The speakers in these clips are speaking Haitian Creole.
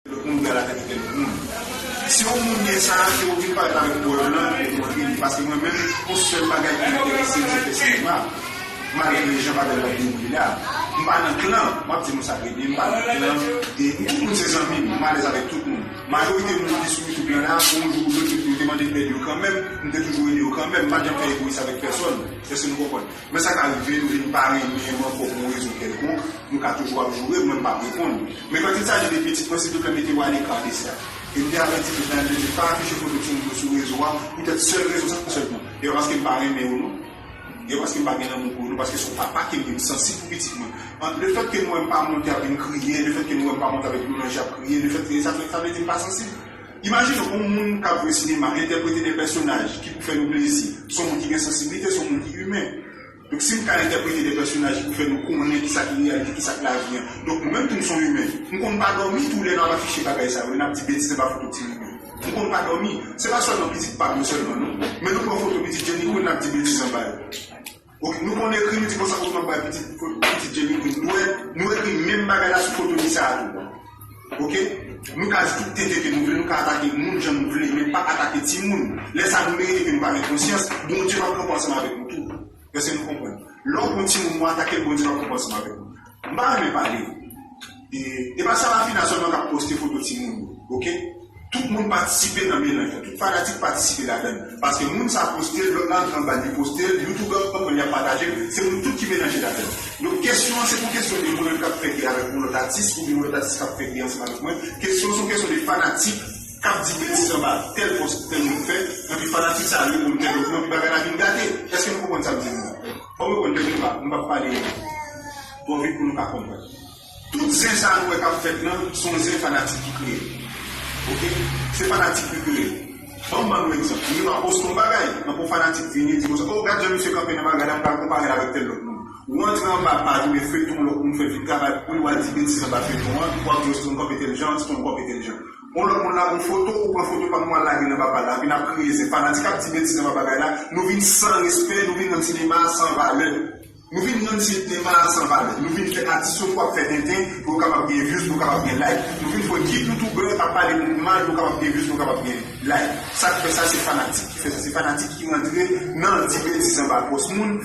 Tout moun pral avèk kèk moun. Si yon moun gen sa, ke ou vin pale avèk bòdè lan pou ou montre li. Paske mwen menm, yon sèl bagay ki enterese m se fè sinema, malgre jan bagay yo ap dewoule la. M pa nan klan, m ap di nou sa trè byen, m pa nan klan, e tout moun se zanmi m, m alèz avèk tout moun. Majorite moun ki sou YouTube lan la, yon jou ou lòt yo te mande m èd yo kanmenm, m te toujou ede yo kanmenm, m pa t janm fè egoyis avèk pèsòn, èske nou konprann? Men sa ka rive nou vin pa renmen m ankò pou yon rezon kèlkonk, nou ka toujou ap joure mwen m pap reponn. Men quand il s'agit de pitit mwen silvouplè mete w a lekar de sa. E m te avèti tout tan, m te di pa afiche foto timoun yo sou rezo a, poutèt sèl rezon sa sèlman. E pa paske m pa renmen yo non. E pa paske m pa gen lanmou pou yo non, paske se yon papa ke m ye, m sansib pou pitit mwen. An, lefèt ke nou wè m pa monte ap vin kriye, lefèt ke nou wè m pa monte avèk dlo nan je ap kriye, lefèt ke sa fè, sa vle di m pa sansib? Imajine yon moun k ap jwe sinema, entèprete de pèsonaj ki pou fè nou plezi. Se yon moun ki gen sansiblite, se yon moun ki imen. Donk, si m ka entèprete de pèsonaj pou fè nou konnen ki sa ki reyalite, ki sa k lavi an. Donk, mwen menm tou m se yon imen. M konn pa dòmi tou lè n ap afiche bagay sa yo, lè n ap di betiz anba foto ti Mimi. M konn pa dòmi. Se pa sèlman pitit pa m yo sèlman non. Men nou pran foto pitit Jenny kou lè n ap di betiz anba yo. Ok nou konn ekri nou di konsa osman bay pitit pitit jenny pou nou wè nou ekri menm bagay la sou foto lisa a tou ok nou ka di tout tenten ke nou vle nou ka atake moun jan nou vle men pa atake timoun lè sa nou merite ke nou pa gen konsyans bondye pap kanpe ansanm avèk nou tou èske nou konprann lè w pran timoun w atake l bondye pap kanpe ansanm avèk ou. M pa renmen pale e e pa Sarafina sèlman kap poste foto timoun yo ok tout moun patisipe nan melanj lan tout fanatik patisipe ladann paske moun sa postel lòt la antre anbal li postel youtubè yo konprann yap patajel se moun tout ki melanje ladann donk kesyon an se pa yon kesyon de mwen menm kap fè gè avèk yon lòt atis oubyen yon lòt atis kap fè gè ansanm avèk mwen kesyon an se yon kesyon de fanatik kap di betiz anba tèl pòs tèl moun fè epi fanatik sa yo reponn tèl lòt non epi bagay la vin gate eske nou konprann sam di nou an. Fòk nou konn tèt nou nou pap pale twò vit pou nou ka konprann. Tout zen sa nou wè kap fèt lan son zen fanatik ki kreye ok se fanatik ki kreye banm ban nou egzanp moun nan poste yon bagay anpè yon fanatik vini di konsa oh gad jan misye kanpe nan bagay la mpral konparel avèk tèl lòt moun ou antre anba paj oubyen feyton lòt moun fè vin travay pouli wal di betiz anba feyton an wap di oh si ton kanpe tèl jan si ton kanpe tèl jan Yon lòt moun lage yon foto ou pran foto pam wal lage nan papal la epi nap kriye se fanatik ap di betiz nan papagay la nou vin san respè nou vin rann sinema a san valè nou vin rann sinema a san valè nou vin fè atis yo fo ap fè tenten pou yo kapab gen views pou yo kapab gen like nou vin pran ki youtuber ap pale moun mal pou yo kapab gen views pou yo kapab gen like sak fè sa se fanatik ki fè sa se fanatik ki rantre nan di betiz anba pòs moun.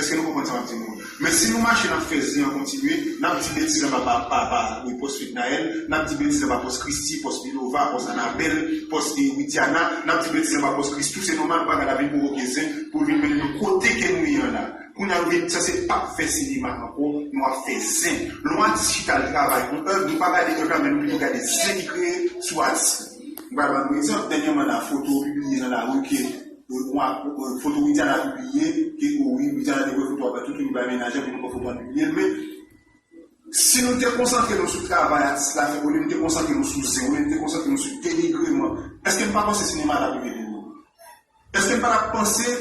Eske nou konprann sa map di nou an? Men si nou mache nap fè zen an kontinye, nap di betiz anba pa pa pa wi pòs Fednaelle, nap di betiz anba pòs Christie, pòs Milova, pòs Anabelle, pòs e Widiana, nap di betiz anba pòs Christoo, se nòmal bagay la vin pwovoke zen pou l vin mennen nou kote ke nou ye an la. Kounye a nou vin sanse pap fè sinema ankò, nou ap fè zen. Lè yon atis chita al travay yon èv, nou pa gade èv la men nou pito gade zen ki kreye sou atis la. M pral ban nou egzanp, dènyèman la foto pibliye nan lari ke. Foto Widiana pibliye ke o wi Widiana te wè foto aprè tout youn bay mennaj an pou nou wè foto an pibliye l men si nou te konsantre nou sou travay atis la fè olye nou te konsantre nou sou zen olye nou te konsantre nou sou denigreman eske nou pa panse sinema ta rive pi lwen eske nou pa ta panse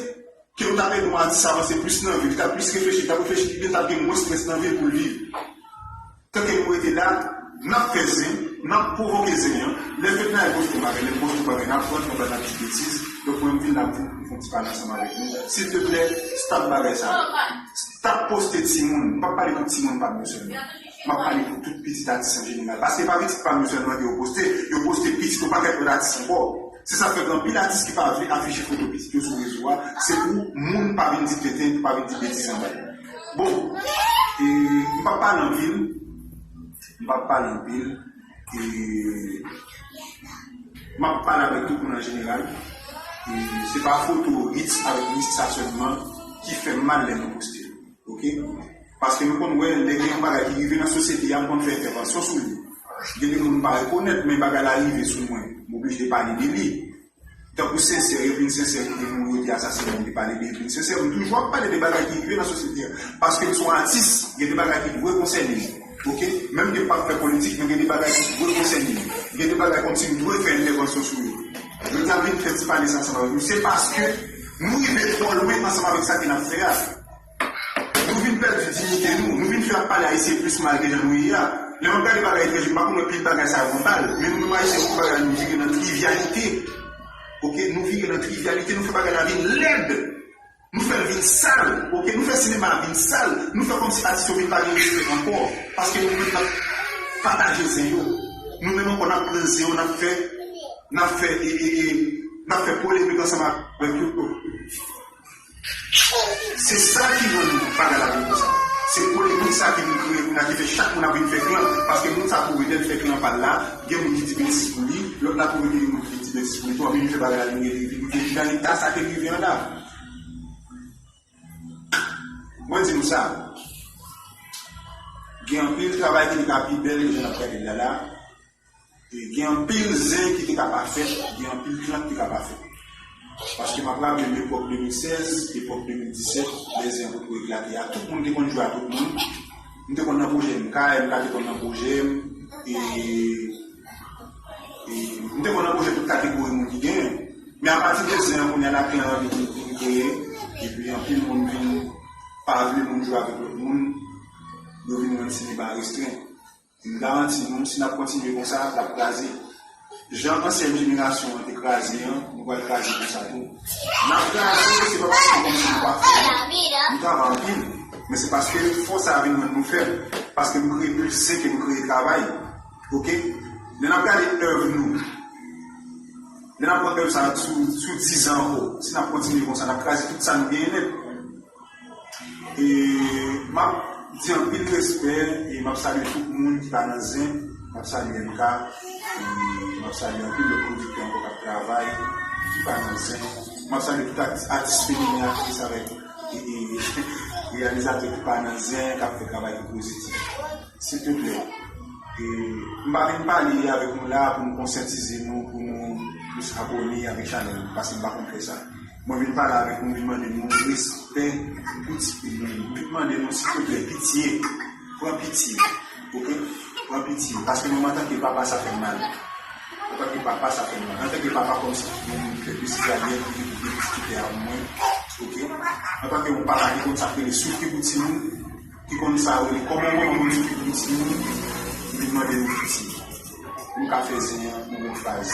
ke nou ta ede yon atis avanse plis nan vi li ta plis reflechi li ta reflechi pi byen li ta gen mwens strès nan vi l pou l viv. Tanke nou rete la, nap fè zen, nap pwovoke zen an, lè fedna e boston bagay, lè boston bagay nap pran nou pral nap di betiz, donk mwen m vin la pou m fon ti pale ansanm avèk nou, silteplè stop bagay sa yo, stop poste timoun, m pap pale pou timoun pam yo sèlman, map pale pou tout pitit atis an jeneral, paske se pa pitit pam yo sèlman ke yo poste, yo poste pitit yon pakèt lòt atis ankò, se sa fè gen anpil atis ki pa vle afiche foto pitit yo sou rezo a, se pou moun pa vin di tenten, pou pa vin di betiz anba yo. Bon e m pap pale anpil m pap pale anpil e map pale avèk tout moun an jeneral e se pa foto Ritz avèk Nistha sèlman ki fèm mal lè nou poste l ok paske nou konn wè lè gen yon bagay ki rive nan sosyete a m konn fè entèvansyon sou li gen de moun m pa rekonèt men bagay la rive sou mwen m oblije pale de li. Tankou sensè yo vin sensè kote moun yo te asasinen m te pale de yo vin sensè m toujou ap pale de bagay ki rive nan sosyete a paske m se yon atis gen de bagay ki dwe konsène m ok menm ke m pap fè politik men gen de bagay ki dwe konsène m gen de bagay kòmsi m dwe fè entèvansyon sou yo jodi a m vin fè ti pale sa ansanm avèk nou se paske nou rive twò lwen ansanm avèk sa ke n ap fè a. Nou vin pèdi dignité nou, nou vin fè ap pale ayisyen plis mal ke jan nou ye a. Lè map gade bagay frè Jim pa konn wè pil bagay sa yo an bal, men nou menm ayisyen nou fè bagay nou vire nan trivialite ok, nou vire nan trivialite, nou fè bagay la vin lèd, nou fèl vin sal ok, nou fè sinema a vin sal, nou fè kòmsi atis yo vin pa gen respè ankò paske nou menm nap pataje zen yo, nou menm ankò nap pran zen yo nap fè nap fè e e e nap fè polemik ansanm avèk yo. Se sa ki rann bagay la vin konsa. Se polemik sa ki vin kreye kounya ki fè chak moun ap vin fè klan paske moun sa twouve lèl fè klan pal la gen moun ki di betiz pou li, lòt la twouve ke gen moun ki vin di betiz pou li tou anpi vin fè bagay la vin rele vin vin nan eta sa ke rive an la. Mwen di nou sa, gen anpil travay ki te ka pi bèl ke jan nap gadel la la. Gen anpil zen ki te ka pa fèt, gen anpil klan ki te ka pa fèt. Paske m ap raple m epòk 2016, epòk 2017, lè zen an potko eklate a, tout moun te konn jwe a tout moun. M te konn nan pwojè MK, MK te konn nan pwojè m. E m te konn nan pwojè tout kategori moun ki genyen. Men apati de zen an, kounya la klan an vin kreye, epi anpil moun vin pa vle moun jwe avèk lòt moun, yo vin rann sinema restren. M garanti nou, si n ap kontinye konsa, l ap kraze. Jan ansyen jenerasyon an te kraze an, nou pral kraze konsa tou. N ap kraze, se pa paske kòm si nou pa fò non. Nou travay anpil, men se paske fò sa a vin rann nou fèb, paske nou kreye plis zen ke nou kreye travay. Ok. Lè n ap gade èv nou, lè n ap pran èv sa a sou dizan ankò, si n ap kontinye konsa, n ap kraze tout sa nou genyen nèt. E map di anpil respè e map salye tout moun ki pa nan zen, map salye MK e map salye anpil lòt pwodiktè ankò kap travay ki pa nan zen, map salye tout atis feminen, aktris avèk reyalizatè ki pa nan zen kap fè travay ki pozitif. Silteplè m pa vin pale avèk nou la pou nou konsyatize nou pou nou plis abòne avèk chanèl m paske m pa konn fè sa. Mwen vin pale avèk nou vin mande nou respè pou ti fi nou yo vin mande nou silvouplè pitye pran pitye ok pran pitye paske nou antanke papa sa fèm mal antanke papa sa fèm mal antanke papa kòmsi ki gen moun ki fè plis garyèl ki gen plis diskite avèk mwen ok antanke yon papa ki konn sa ki rele soufri pou ti moun ki konn sa yo rele kòman yon manman konn soufri pou ti moun m vin mande nou pitye nou ka fè zen an yon fraz.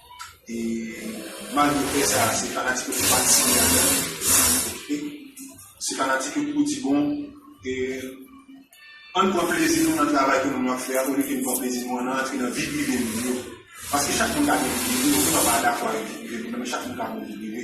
E malgre fè sa a, se fanatik yo ki pa t siyen ak Dany e se fanatik yo ki pou di bon e ann pran plezi nou nan travay ke nou ap fè a olye ke n pran plezi nou ann antre nan vi prive moun yo paske chak moun ka gen vi prive yo, mwen pa dakò avèk vi prive moun nan men chak moun ka gen vi prive.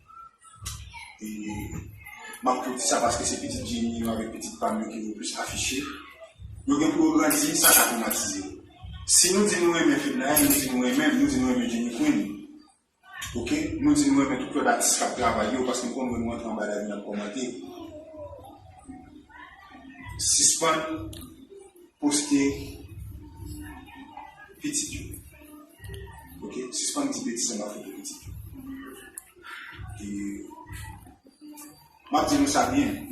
Map tou di sa paske se pitit Jenny yo avèk pitit pam yo ki vin plis afiche. Yo gen pou yo grandi, sa ka twomatize yo. Si nou di nou renmen Fednaelle, nou di nou renmen l, nou di nou renmen Jenny Queen, ok, nou di nou renmen tout lòt atis kap travay yo paske m konn wè nou antre anba dal vin ap kòmante. Sispann poste pitit yo. Ok, sispann di betiz anba foto pitit ou. Map di nou sa byen.